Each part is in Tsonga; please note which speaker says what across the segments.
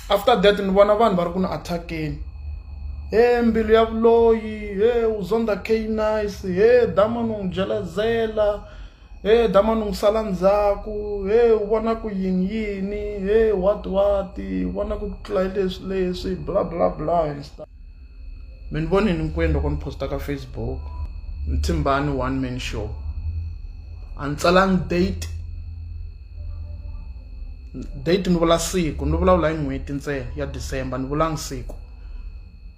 Speaker 1: after that ni vona vanhu va ri ku ni attackeni he mbilu ya vuloyi he uzonda k nice he damon u n'wi byela zela Hey damani n'wi sala ndzhaku hey u vona ku yini yini hey what what u vona ku tlula leswi leswi bla bla bla and stuff mi ni vonini hinkwenu loko ni posta ka facebook mthimbani one man show a ni tsalanga date date ni vula siku ni vulavula hi n'hweti ntsena ya december ni vulanga siku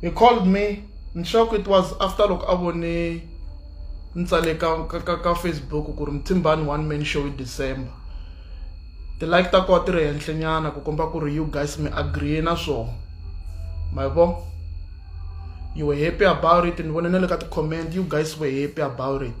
Speaker 1: he called me ni sure ku it was after loko a vone ni tsale ka ka ka ka facebook ku ri muthimbani one man show hi december ti-like ta koho ti ri henhlenyana ku komba ku ri you guys mi agree na swona ma yi vo you were happy about it ni vone na le ka ti-comment you guys were happy about it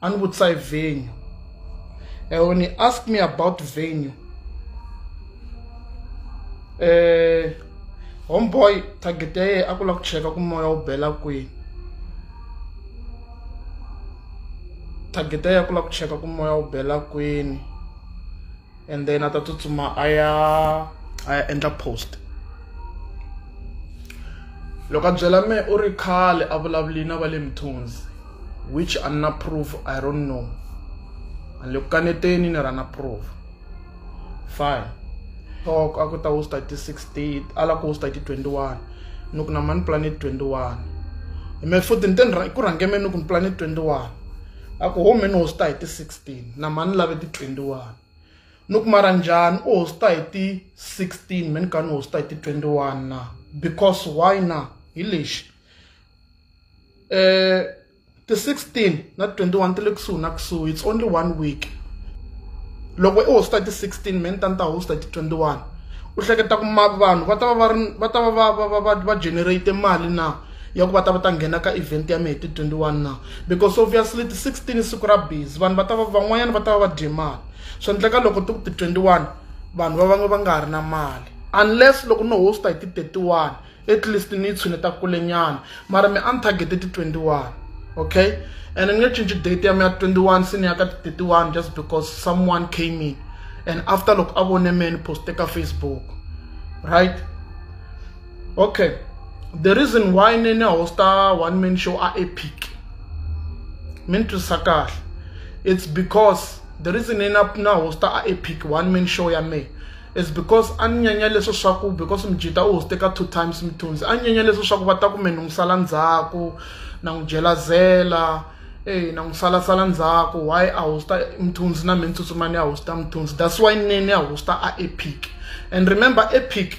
Speaker 1: a ni vutisa hi venue and when he asked me about venue eh homeboy target ya yena a ku lava ku cheka ku moya wu bela kwini target ya yena a ku lava ku cheka ku moya wu bela kwini and then a ta tsutsuma a ya a ya endla post loko a byela me u ri khale a vulavuli na va le mithunzi which a ni na proof i don't know a ni le ku kaneteni ni ra na proof fine talk a ku ta hosta ti 16 a la ku hosta ti 21 ni ku na mani planet 21 me futhi ni te ku rhange me ni ku ni planet 21 a ku home ni hosta hi ti 16 na mani lave ti 21 ni ku mara njhani u hosta hi ti 16 me ni ka ni hosta hi ti 21 na because why na hi lexi um ti 16 na 21 ti le kusuhi na kusuhi it's only one week loko i hosta hi ti 16 me ni ta ni ta hosta hi ti 21 u hleketa ku vanhu va ta va va ri va ta va va va va va generate mali na ya ku va ta va ta nghena ka event ya mehe ti-twenty-one na because obviously ti-sixteen i siku ra busy vanhu va ta va van'wanyana va ta va va dye mali swi endleka loko ti ku ti-twenty-one vanhu va vange va nga ha ri na mali unless loko no hosta hi ti-thirty-one at least ni yi tshuneta kulenyana mara mi a ni targete ti-twenty-one okay and ni nge cinci date ya mi ya twenty-one se ni ya ka ti-thirty-one just because someone came in and after loko a vone me ni poste ka facebook right okay the reason why ni ni hosta one man show a epic mi ni twisisa kahle it's because the reason ni na na hosta a epic one man show ya me is because a ni nyanya leswo swa ku because mjita u hoste ka two times mithunzi a ni nyanya leswo swa ku va ta ku me ni n'wi sala ndzhaku na n'wi jelazela eyi na n'wi salasala ndzhaku why a hosta mthunzi na me ni tsutsumani a hosta mthunzi that's why ni ni a hosta a epic and remember epic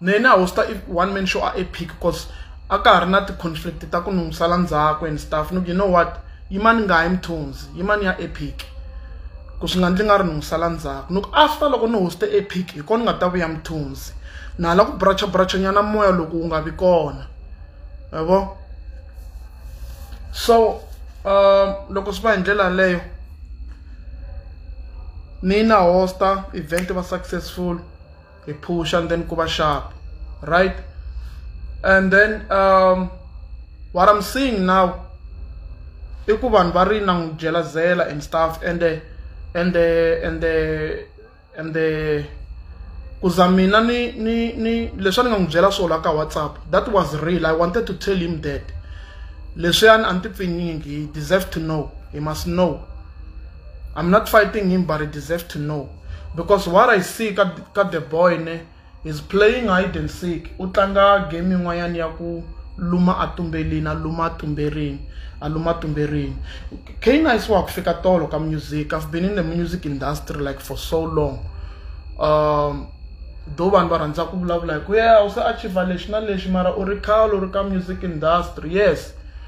Speaker 1: na yena a host-a one man show a epic cause a ka ha ri na ti-conflict ta ku ni n'wi sala ndzhaku and stuff ni ku you know what yimani nga yi mthonzi yimani ya epic ku swi nga ndzi nga ri ni n'wi sala ndzhaku ni ku after loko ni hoste epic hi kona ni nga ta vuya mthonzi na hala ku bracha bracha nyana moya loko wu nga vi kona yabo so um loko swi va hi ndlela yaleyo Ni na host-a event va successful hi phusha and then ku va sharp right and then um, what I'm seeing now i ku vanhu va ri na n'wi jelazela and stuff and the, and the, and the, and the ku za mina ni ni ni leswi a ni nga n'wi byela swona ka whatsapp that was real i wanted to tell him that leswiyani a ni ti pfinyingi he deserve to know he must know I'm not fighting him, but he deserves to know. Because what I see ka, ka the boy ne, is playing hide and seek. Utlanga game yin'wanyana ya ku luma a tumbelini, a luma a tumberini, a luma a tumberini. Kane a isiwa ku fika tolo ka music. I've been in the music industry like for so long. Um, though vanhu va rhandza ku vulavula hi ku ya u se achieve lexi na lexi mara u ri khale u ri ka music industry yes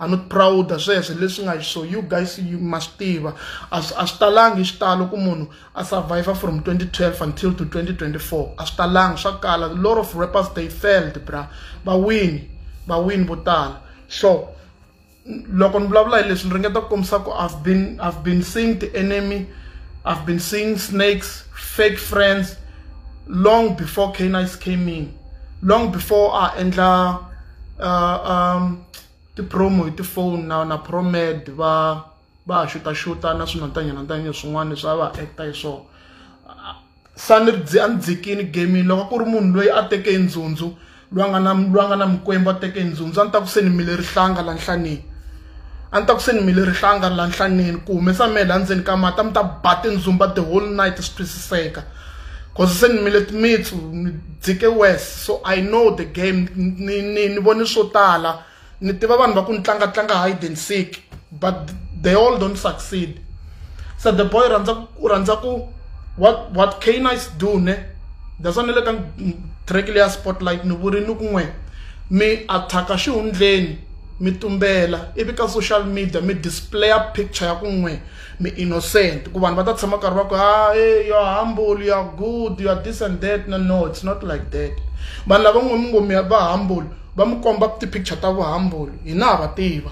Speaker 1: a ni proud sweswo leswi nga so you guys you must tiva a swi talangi xitalo ku munhu a survive from 2012 until to 2024 a swi talangi swa kala a lot of rappers they failed bra va win va win vo tala so loko ni vulavula hi leswi ni ringeta ku kombisa ku i've been i've been seeing the enemy i've been seeing snakes fake friends long before canice came in long before a endla uh, um, ti-promo hi tifoni na na promed va va ha xutaxuta na swinantanyana ntanyana swin'wana leswi a va acta hi swona sa ni dzi a ni dzikini gaming loko ku ri munhu loyi a teke ndzundzu loyi a nga na loyi a nga na mikwembu a teke ndzundzu a ni ta ku se ni mile rihlanga la nhlanini a ni ta ku se ni mile rihlanga la nhlaneni ku humesa mele endzeni ka mati a mi ta ba tindzumba the whole night swi twisiseka cause se ni mile timitsu ni dzike wes so i know the game ni ni ni vone swo tala ni tiva vanhu va ku ni tlanga tlanga hide and seek but they all don't succeed so the boy rhandza u rhandza ku what what can i do ne that's why ni le ka track leya spotlight ni vuri ni ku n'we mi attack-a xihundleni mi tumbela ivi ka social media mi displaya picture ya ku n'we mi innocent ku vanhu va ta tshama karhi va ku ha ah, e yo humble ya good ya this and that no no it's not like that vanhu lava n'we mi ngo mi va humble va mi komba ti-picture ta vuhumble hina ha va tiva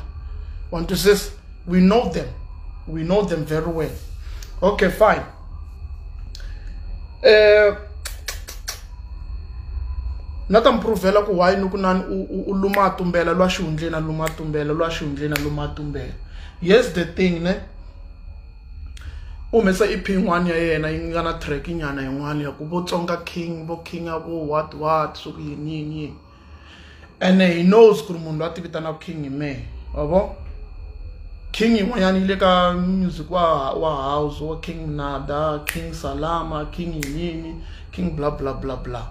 Speaker 1: want to says we know them we know them very well okay fine eh na ta mi pruvhela ku why ni ku nani u luma a tumbela lwa xihundleni a luma a tumbela lwa xihundleni a luma a tumbela yes the thing ne u humesa ep yin'wana ya yena yi nga na track nyana yin'wana ya ku vo tsonga king vo king a vo what what swa ku yini yini yini ene he knows ku ri munhu loyi a ti vitanaka king hi mehe wavo king yin'wanyana yi le ka music wa wa house wa king nada king salama king yini king bla bla bla bla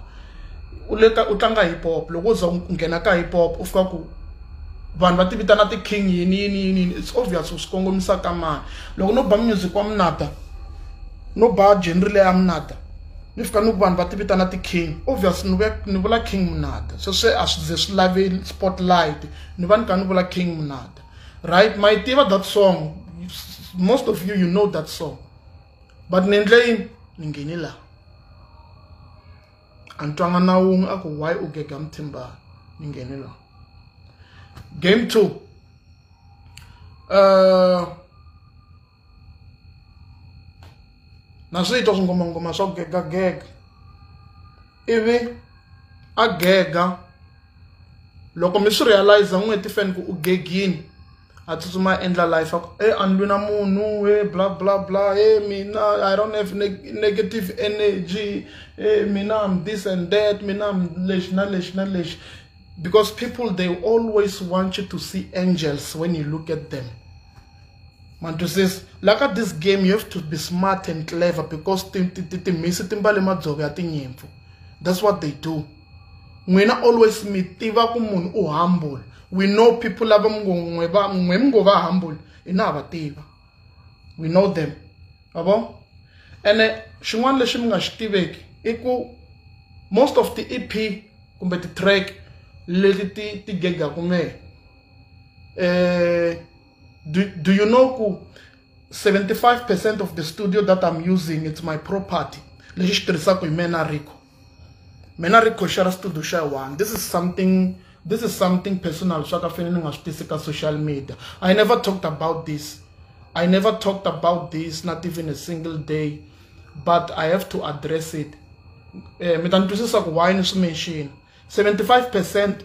Speaker 1: u le ka u tlanga hip hop loko u za u nghena ka hip hop u fika ku vanhu va ti vitana ti-king yini yini yini yini it's obvious u swi kongomisa ka mani loko no ba music wa munata no ba genre leya munata ni fika ni ku vanhu va ti vitana ti-king obvious ni ve ni vula king munata se swi a swi ze swi lave spotlight ni va ni ka ni vula king munata right ma yi tiva that song most of you you know that song but ni endle yini ni nghene laha a ni twanga na wun'we a ku why u gega muthimbana ni nghene laha game two uh, na swi twa swingomangoma swa gegagega ivi a gega loko mi swi realize n'weti fane ku u gegini a tsutsuma a endla life a ku e a ni lwi na munhu e bla bla bla e mina i don't have negative energy e mina am this and that mina am lexi na lexi na lexi because people they always want you to see angels when you look at them Mantwisisa la ka this game you have to be smart and clever because timhisi ti mbale madzovo ya tinyimpfu that's what they do n'wina always mi tiva ku munhu u humble we know people lava mngongwe va n'we mi ngo va humble hina ha va tiva we know them va vo ene xin'wana lexi mi nga xi tiveki i ku most of the ep kumbe ti-track leti ti ti gegaku mehe um eh, Do, do you know 75% of the studio that I'm using, it's my property. Lexi xi tirhisaka hi mena Rico. Mena Rico xera studio xa one. This is something this is something personal swa ka fene ni nga swi tisi ka social media. I never talked about this. I never talked about this not even a single day but I have to address it. Eh mi ta ni twisisa ku why ni swi mention. 75%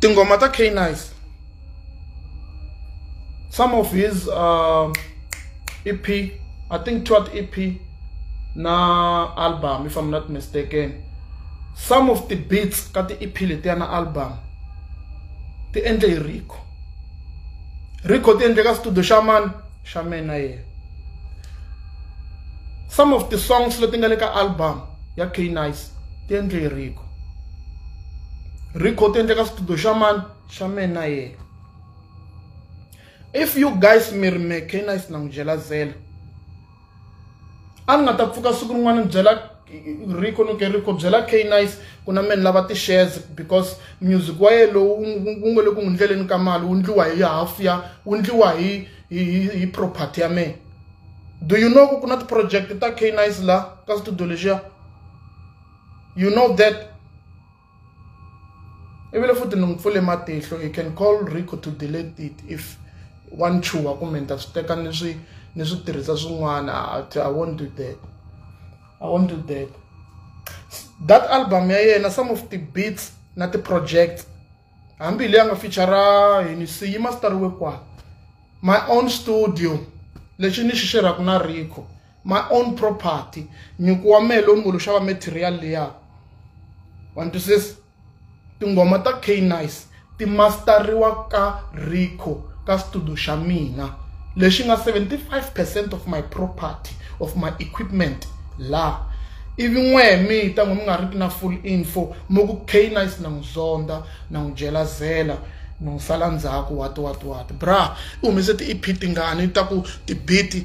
Speaker 1: tinghoma ta k-nice some of his uh, ep i think twat ep na album if i'm not mistaken some of the beats ka ti-ep letiya na album ti endle hi rico rico ti endle ka studio xa mani xa mena yena some of the songs leti nga le ka album ya knice ti endle hi rico rico ti endle ka studio xa mani xa mena yena if you guys mi ri me knice na n'wi jelazela a ni nga ta pfuka siku rin'wana ni byela rico no ke rico byela k nice ku na meni lava ti-shares because music wa ye lowu wu nge le ku n'wi ndleleni ka mali wu ndliwa hi half ya wu ndliwa hi hi hi property ya mina do you know ku ku na ti-project ta k nice la ka studio lexiya you know that i vile futhi ni n'wi pfule matihlo you can call rico to delete it if wa ni chuha kumbe ni ta swi teka ni swi ni swi tirhisa swin'wana i won't do that i won't do that that album ya yena some of the beats na ti-projects hambi leyi a nga featura yini si yi masitariwe kwa my own studio lexi ni xi xerhaka na rico my own property nyiko wa mehe lowu ni ngo lo xava material leya wa ni twisisa tinghoma ta k nice ti masteriwa ka rico ka studio xa mina lexi nga 75 percent of my property of my equipment la ivi n'we mi ta n'we mi nga ri ki na full info mi ku k nice na n'wi zonda na n'wi jelazela ni n'wi sala ndzhaku wati wati wati bra u humese ti-ep tingani ta ku tibiti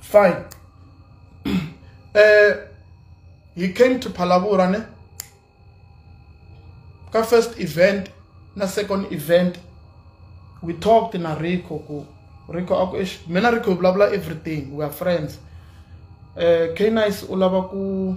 Speaker 1: fine uh, he came to Phalaborwa ne ka first event na second event we talked na Rico ku Rico aku ish mina Rico bla bla everything we are friends uh, eh, K-Nice u lava ku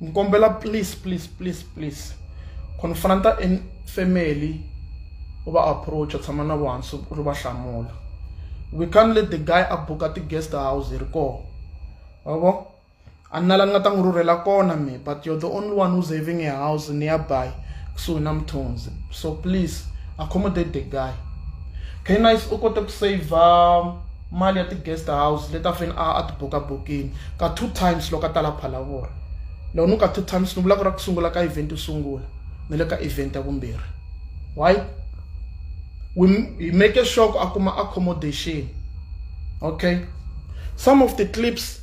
Speaker 1: ni kombela please please please please ku ni fana ni ta family u va approach tshama na vuhansi u ri va hlamula we can't let the guy a buka ti-guest house hi ri koho wavo a ni na la ni nga ta n'wi rhurhela kona me but you're the only one who's having a house nearby kusuhi na mthonzi so please accommodate the guy knife u kote ku saver mali ya ti-guest house leti a fanele a a ti buka bokini ka two times loko a ta la phalavora loko ni ka two times ni vula ku ra ku sungula ka event yo sungula ni le ka event ya vumbirhi why we hi make sure ku a kuma accommodation okay some of the clips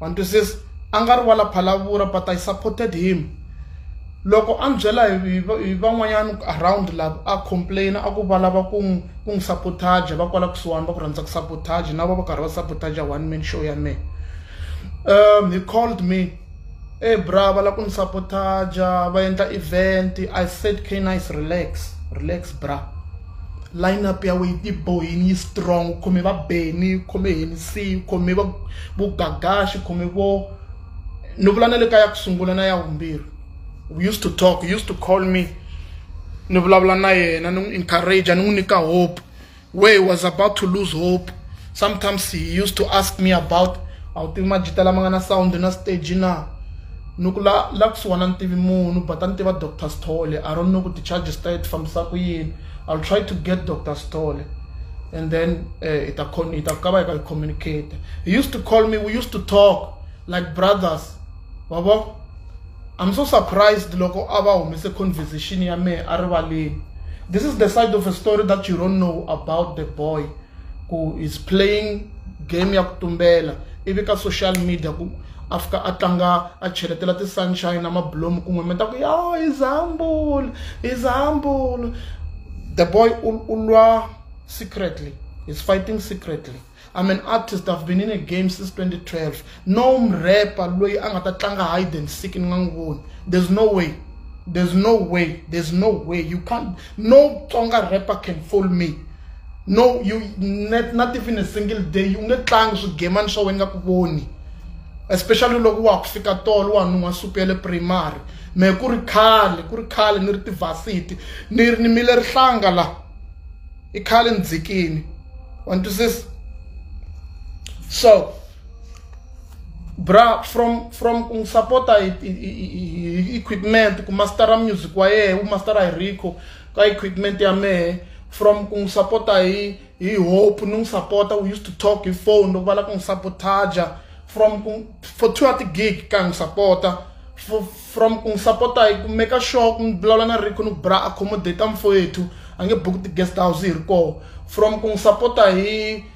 Speaker 1: wa ni twisisa a nga ri wala phalavura but i supported him loko a ni byela hi van'wanyana around lava a complain a ku va lava ku n'wi ku n'wi sabotage va kwala kusuhani va ku rhandza ku sabotage na va va karhi va sabotage one man show ya mehe um he called me e bra va lava ku ni sabotaja va endla event i said can nice relax relax bra line up ya wena yi tibohini yi strong u khome va beni u khome henisi u khome va vo gagaxi u khome vo ni vula na le ka ya ku sungula na ya vumbirhi we used to talk used to call me ni vulavula na yena ni n'wi encourage ni n'wi nyika hope where he was about to lose hope sometimes he used to ask me about a wu tivi majita lama nga na sound na stage na ni ku la la kusuhana ni tivi munhu but a ni tiva dr stole i don't know ku ti-charges ta ye ti fambisa ku yini i'll try to get dr stole and then eh, ita ita ka va yi ka yi communicate he used to call me we used to talk like brothers wabo i'm so surprised loko a va humese conversation ya mehe a rivaleni this is the side of a story that you don't know about the boy ku is playing game ya ku tumbela ivi ka social media ku a fika a tlanga a cheletela ti-sunshine na mabulomu kun'we mi ta ku yo is humble is humble the boy u lwa secretly is fighting secretly i'm an artist i've been in a game since 2012 no mrepa loyi a nga ta tlanga hide and seek ni nga n'wi voni there's no way there's no way there's no way you can't no tsonga rapper can fool me no you not, not even a single day you nge tlangi swigemani swa wena nga ku voni especially loko wa ku fika tolo wa nun'wa supu ya le primary me ku ri khale ku ri khale ni ri tivhasiti ni ri ni mile rihlanga la i khale ni dzikini wa ni twisisa so bra from from ku n'wi sapota hi hi equipment ku mastera music wa yena u mastera hi rico ka equipment ya mehe from ku n'wi sapota hi hi hope ni n'wi sapota we used to talk hi phone loko va lava ku n'wi sabotaja from ku for two ati gig ka n'wi sapota from ku n'wi sapota hi ku make sure ku n'wi vulavula na rico ni ku bra accommodate mfowethu a nge buki ti-guest house hi ri koho from ku n'wi sapota hi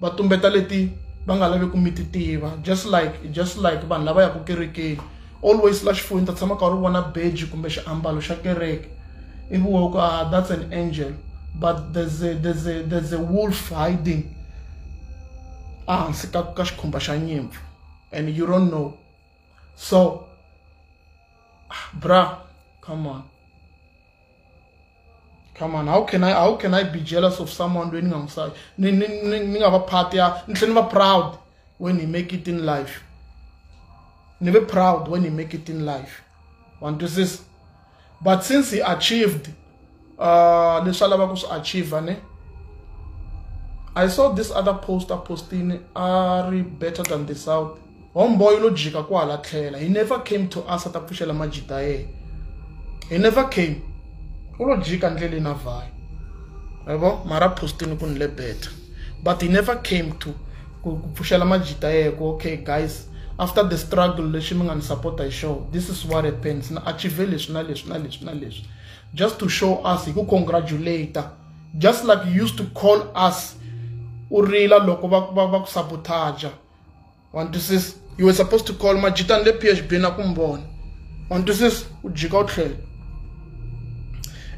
Speaker 1: va tumbeta leti va nga lavi ku mi ti tiva just like just like vanhu lava yaka kerekeni always la xifuwini ta tshama ka ri vona beji kumbe xiambalo xa kereke ivi wo ku ah that's an angel but there's a, there's a, there's a wolf hiding ehansi ka ka xikhumba xa nyimpfu and you don't know so ah, bra come on come on how can i how can i be jealous of someone loyi ni nga n'wi ni ni ni ni nga va part ya ni tlhela ni va proud when he make it in life ni ve proud when he make it in life wa ni twisisa but since he achieved uh, leswi a lavaka ku swi achieve ne i saw this other poster posting a ri better than the south Homeboy lo jika kwala tlhela. He never came to us ta pfuxela majita ye. He never came. U lo jika ndlele na vhayi. Yabo mara postini ku nile better. But he never came to ku pfuxela majita ye ku okay guys after the struggle lexi mi nga ni support hi show this is what happens na achieve leswi na leswi na leswi na leswi just to show us hi ku congratulate just like you used to call us u rila loko va va va ku sabotaja wantwisisa you were supposed to call majita ni le p h b na ku mi vona wantwisisa u jika u tlhela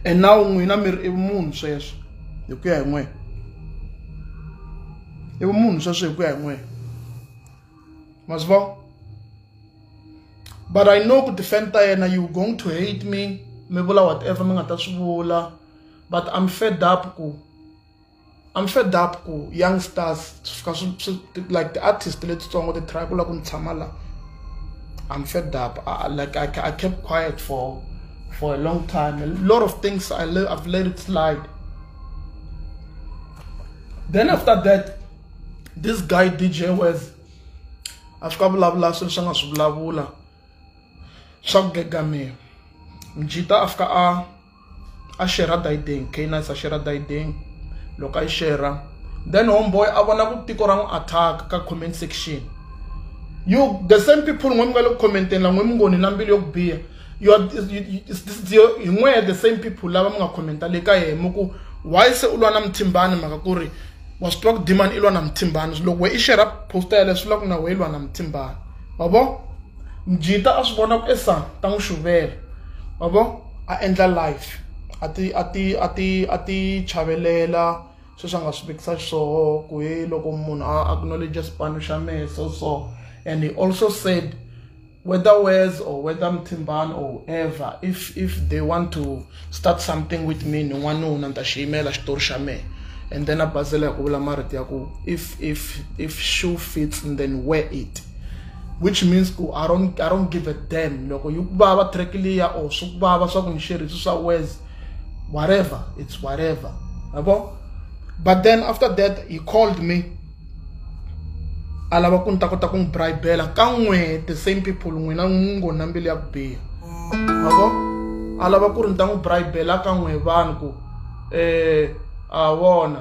Speaker 1: and now n'wina mi ri i vumunhu sweswo hi ku ya hi n'wina i vumunhu sweswo hi ku ya hi n'wina ma swi vona but i know ku defend ta yena you going to hate me mi vula whatever mi nga ta swi vula but i'm fed up ku I'm fed up ku young stars fika swi swi like the artist letitsongo ti try ku lava ku ni tshama la I'm fed up I, like I, I kept quiet for for a long time a lot of things I let, I've let it slide then after that this guy DJ was a fika vulavula swilo swi nga swi vulavula swa ku gegamiwa mjita a fika a a xerha dayideni canines a xerha dayideni loko a yi xerha then homeboy a vona ku tiko ra n'wi attack ka comment section you the same people n'we mi nga le ku commenteni la n'we mi ngoni na mbilu yo ku biha hi n'we the same people lava mi nga commenta le ka yena mi ku why se u lwa na muthimbani mhaka ku ri wa swi tiva ku dimani i lwa na muthimbani loko we i xerha posta yaleyo swi vula ku na we i lwa na muthimbani wa vo mjita a swi vona ku esa ta n'wi xuvela wa vo a endla life a ti a ti a ti a ti chavelela sweswi a nga swi vekisa swoho ku he loko munhu a acknowledge xipano xa mehe so so and he also said whether wes or whether mthimbani or whoever if if they want to start something with me ni n'wana ni wuna ni ta xi yimela xitori xa mehe and then a basela hi ku vula marito ya ku if if if shoe fits then wear it which means ku i don't, I don't give a damn loko yi ku vava track liya or swi ku vava swa ku ni xerisi swa wes whatever it's whatever yabo but then after that he called me a lava ku ni ta kota ku n'wi bribela ka n'we the same people n'wina n'wi ngo na mbilu ya ku biha yabo a lava ku ri ni ta n'wi bribela ka n'we vanhu ku um a vona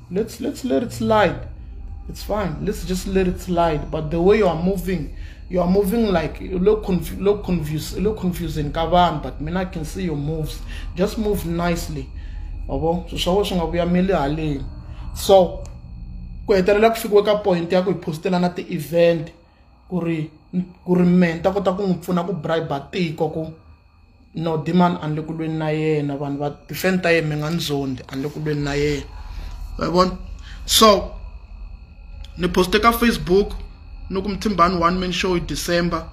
Speaker 1: let's let's let it slide it's fine let's just let it slide but the way you are moving you are moving like look confu look confused look confusing ka vanhu but mina i can see your moves just move nicely yabo swi swa wena swi nga vuyameli haleni so ku hetelela ku fikiwe ka point ya ku hi postellana ti-event ku ri ku ri me ni ta kota ku n'wi pfuna ku bribe tiko ku no demand a ni le ku lweni na yena vanhu va tifeni ta yena mi nga ni zondi a ni le ku lweni na yena wa vona so ni poste ka facebook ni ku mthimbani one man show hi december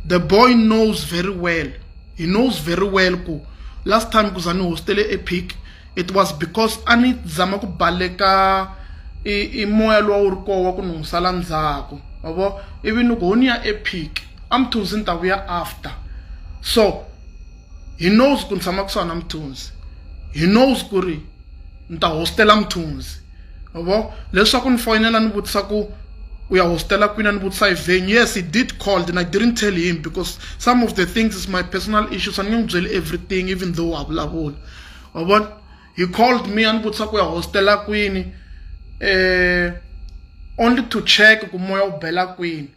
Speaker 1: the boy knows very well he knows very well ku last time ku za ni hostele epic it was because a ni zama ku baleka i moya lowa wu ri koho wa ku ni n'wi sala ndzhaku wa vo ivi ni ku ho ni ya epic a mthunzi ni ta vuya after so he knows ku ni tshama kusuhani na mthunzi he knows ku ri ni ta hostela mthunzi vo leswaku ni foyinela ni vutisa ku u ya hostela kwini a ni vutisa hi venue yes he did called and i didn't tell him because some of the things is my personal issues a ni nge n'wi byeli everything even though wa vulavula wa vona he called me a ni vutisa ku ya hostela kwini um only to check ku moya wu bela kwini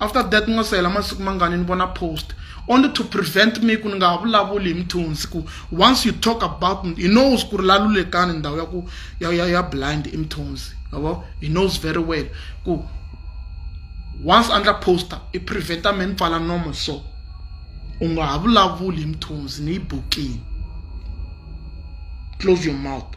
Speaker 1: after that ni nga se hela masiku mangani ni vona post only to prevent me ku ni nga ha vulavuli hi mthunzi ku once you talk about he knows ku ri lalulekani ndhawu ya ku ya ya ya blind i mthunzi yabo he knows very well ku once a ndla poster i preventa me ni pfala nomo so u nga ha vulavuli hi mthunzi ni yi bukile close your mouth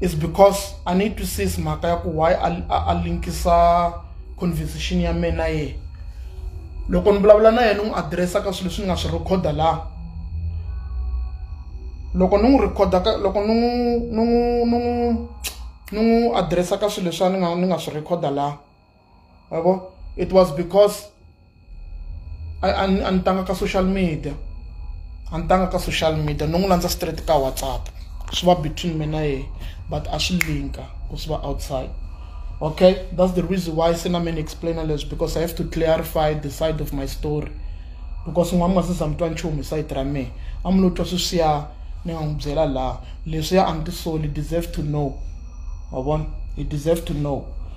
Speaker 1: is because i need to see mhaka ya ku why a linkisa conversation ya mina ye loko ni vulavula na yena ni n'wi adiresa ka swilo leswi ni nga swi rhekhoda laha loko ni n'wi rhekhoda ka loko ni n'wi ni n'wi ni n'wi ni n'wi adiresa ka swilo leswi a ni nga ni nga swi rhekhoda laha yabo it was because a ni tanga ka social media a ni tanga ka social media ni n'wi landza straight ka whatsapp swi va between mina yena but a swi linka ku swi va outside okay that's the reason why se na many explainer leswi because i have to clarify the side of my story because n'wana ma sisa mi twa nchumu hi sayiti ra mehe a mi lo twa sweswiya ni nga n'wi byela laha leswiya a ni tisoli deserve to know wa vona he deserve to know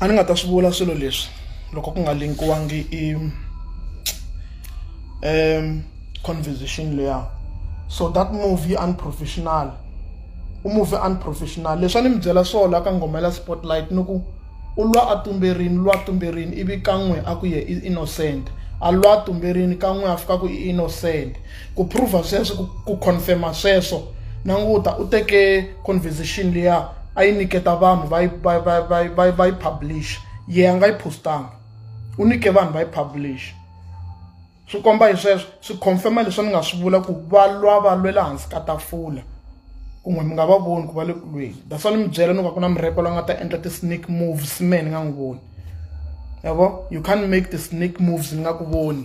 Speaker 1: a ni nga ta swi vula swilo leswi loko ku nga linkiwangi i um conversation leya so that movie unprofessional u movie unprofessional leswi a ni mi byela swona ka nghoma ya spotlight ni ku u lwa a tumberini lwa tumberini ivi kan'we a ku ye i innocent a lwa tumberini kan'we a fika ku i innocent Ku prove sweswo ku ku confirma sweswo languta u teke conversation liya a yi nyiketa vanhu va yi va va va va va yi publish ye a nga yi postanga u nyike vanhu va yi publish swi komba hi sweswo swi confirma leswi ni nga swi vula ku va lwa va lwela hansi ka tafula kun'we mi nga va voni ku va le ku lweni that's why ni mi byela ni ku ku na murepo la nga ta endla ti-snake moves me ni nga n'wi voni yabo you can't make ti-snake moves ni nga ku voni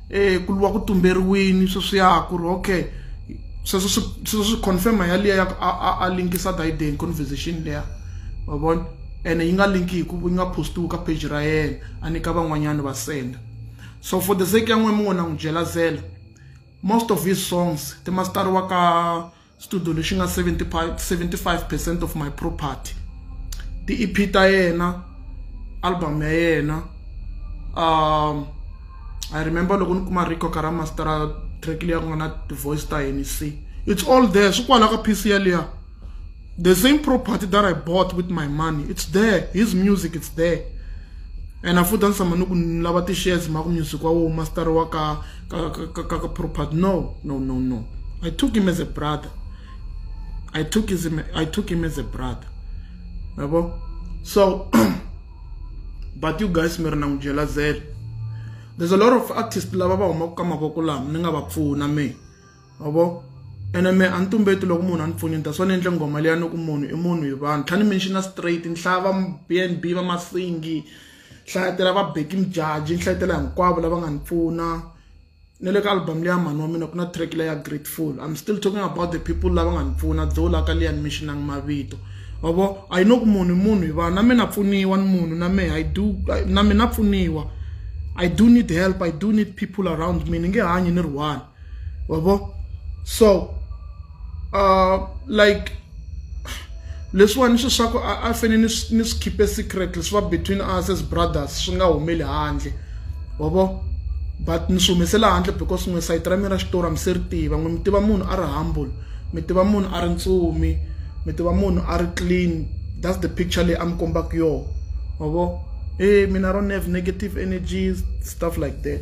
Speaker 1: e ku luwa ku tumberiwini sweswiya ku ri okay sweswo swi sweswo swi confirma yaliya ya ku a a a linkisa Biden conversation leya wa vona ene yi nga linki hi ku yi nga postiwi ka page ra yena a nyika van'wanyana va senda so for the sake ya n'wina mi ngo na n'wi jelazela most of his songs ti masitariwa ka studio lexi nga 75 75 percent of my property ti-ep ta yena album ya yena um i remember loko ni kuma rico ka ra mastera track leyi ku nga na ti-voice ta henc it's all there swi kwala ka piece yaliya the same property that i bought with my money it's there his music it's there and afuthi a ni tshama ni ku ni lava ti-shares ma ku music wa wo mastera wa ka kakapropat no no no no i took him as a brother i took, his, I took him as a brother yabo so but you guys mi ri na n'wi byela zele there's a lot of artists lava va humaka ka mavoko lama ni nga va pfuna me yabo ene me a ni tumbeti loko munhu a ni pfunyeta swa ni endle nghoma leya ni ku munhu i munhu hi vanhu tlhani mi ni xi na straight nhlava b n b va masingi hlayetela va beki mjaji ni hlayetela hinkwavo lava nga ni pfuna ni le ka album leya mhani wa mina ku na track leya grateful i'm still talking about the people lava nga ni pfuna dzoho la ka liya ni mi xinangi mavito wavo a yi no ku munhu munhu hi vanhu na mina pfuniwa ni munhu na mehe i do na mina pfuniwa i do need help i do need people around me ni nge hanyi ni ri one wabo so uh like leswiwani swi swa ku a fane ni ni swi khipe secret leswi va between us as brothers swi nga humeli handle wabo but ni swi humesela handle because n'we sayiti ra mina ra xitori a mi se ri tiva n'we mi tiva munhu a ri humble mi tiva munhu a ri ntsumi mi tiva munhu a ri clean that's the picture leyi a mi kombaka yona wabo e mina ro nev negative energies stuff like that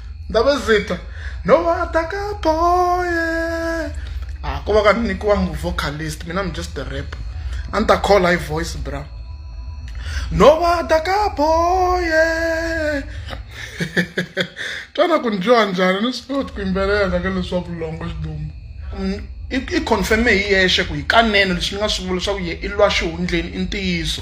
Speaker 1: ndabezitha nowatakabhoye ah ko va ka ni nyikiwangi vocalist mina i'm just a rap a ni ta call hi voice bra nowatakabhoye twana ku ni twiwa njhani ni swi koti ku yimbelela ka leswaku longo xidumu i confirme hi yexe ku hikanene leswi ni nga swi vula leswaku ye i lwa xihundleni i ntiyiso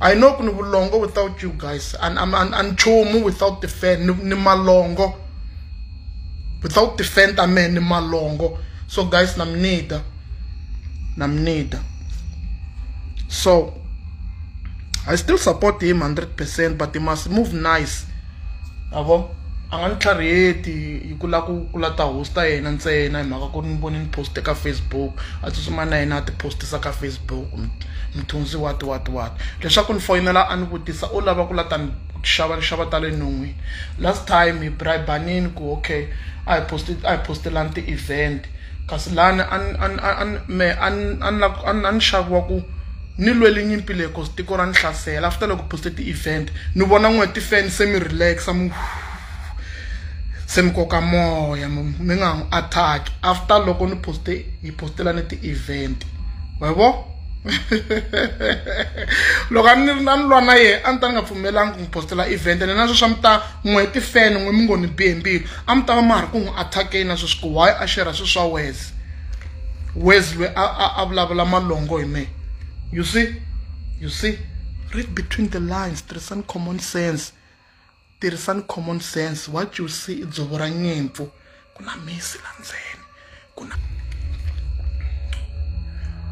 Speaker 1: I know ku ni vulongo without you guys and I'm an nchumu without the fan ni malongo without the fan ta me ni malongo so guys na mnida na mnida so I still support him 100% but he must move nice ma vo a nga ni tlhariheti hi ku lava ku ku lava ta host-a yena ntsena hi mhaka ku ri ni vone ni post-e ka Facebook a tsutsuma na yena a ti-post-isa ka Facebook mthunzi what what what leswaku ni foyinela a ni vutisa u lava ku lava ta ni xava nxava ta le non'wini last time hi bribe-anile ku okay a hi post a hi post-elani ti-event kasi lani a ni a ni a ni mehe a ni a ni a ni a ni xaviwa ku Ni lwele nyimpi leyi cause tiko ra ni hlasela after loko poste ti event ni vona n'we ti fan se mi relax mu se mi koka moya mi mi nga n'wi attack after loko ni poste hi postela ni ti event wa vo loko a ni ri na ni lwa na yena a ni ta ni nga pfumelanga ku n'wi postela event ene na sweswi a mi ta n'we ti fan n'we mi ngo ni bihe mbilu a mi ta va ma ha ri ku n'wi attack-eni na sweswi ku why a share swilo swa wes wes lwe a, a, a vulavula malongo hi mehe you see you see read between the lines tirhisani common sense tirhisani common sense what you see i dzovo ra nyimpfu ku na misi la ndzeni ku na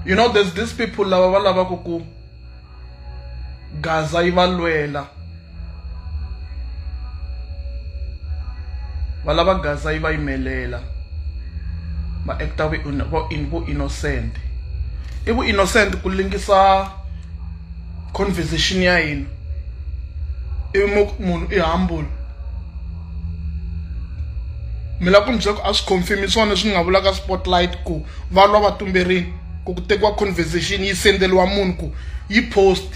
Speaker 1: you know there's these people lava va lavaka ku Gaza yi va lwela va lava Gaza yi va yimelela va actor vu vu innocent i vu innocent ku lingisa conversation ya hina ivi mo ku munhu i humble mi lava ku ni byela ku a swi confirm-i swona leswi ni nga vulaka spotlight ku va lwa va tumberini. ku ku tekiwa conversation yi sendeliwa munhu ku yi post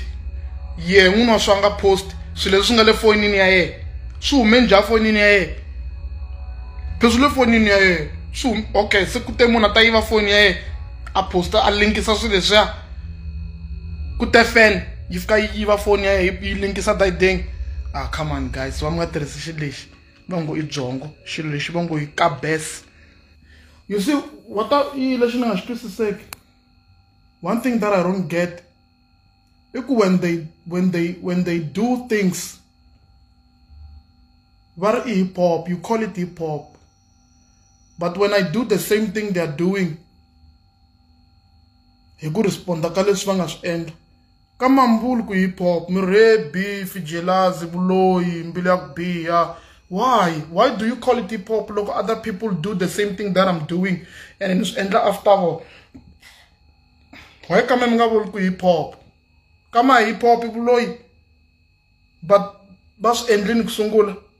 Speaker 1: ye n'wini wa swa nga post swilo leswi nga le fonini ya yena swi hume njha fonini ya yena pheswi le fonini ya yena swi hume okay se ku te munhu a ta yiva foni ya yena a posta a linkisa swilo leswiya ku te fan yi fika yi yiva foni ya yena yi linkisa dayideng ah come on guys va mi nga tirhisi xilo lexi va ngo i byongo xilo lexi va ngo yi kabes you see what ta i lexi ni nga xi twisiseki one thing that i don't get i ku when they when they when they do things va ri i hip hop you call it hip hop but when i do the same thing they are doing hi ku responda ka leswi va nga swi endla Ka Mambulu ku hip hop, mirhi beef, jealousy, vuloyi, mbilu ya ku biha. Why? Why do you call it hip hop loko other people do the same thing that I'm doing and mi swi endla after all? Why ka mi nga vuli ku hip hop? Ka ma hip hop vuloyi but va swi endlini ku sungula.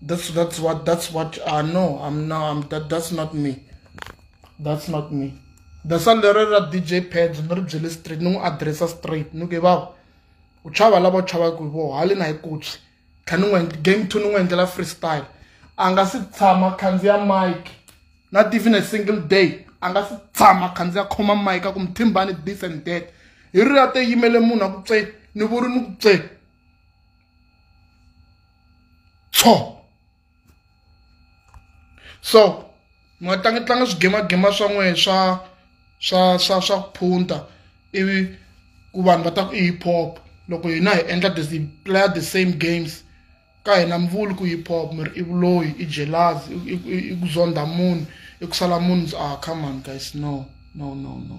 Speaker 1: That's that's what that's what I uh, know. I'm no I'm that that's not me. That's not me. That's all the rera DJ pads no byele straight no address straight no give up. U chava lava chava ku vo hali na ikutsi. Kani ngwe game to no endlela freestyle. Anga si tshama khandziya mic. Not even a single day. Anga si tshama khandziya khoma mic ku mthimbani this and that. Hi ri ate yimele munhu a ku tse ni vuri ni ku tse. tsho so mi nga tlangi tlanga swigemagema swa n'wehe swa swa swa swa ku phunta ivi ku vanhu va ta ku i hip hop loko hina hi endla the hi playa the same games ka hina mi vuli ku hip hop mi ri i vuloyi i jealous i ku zondha munhu i ku sala munhu ndzi ah come on guys no no no no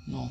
Speaker 1: no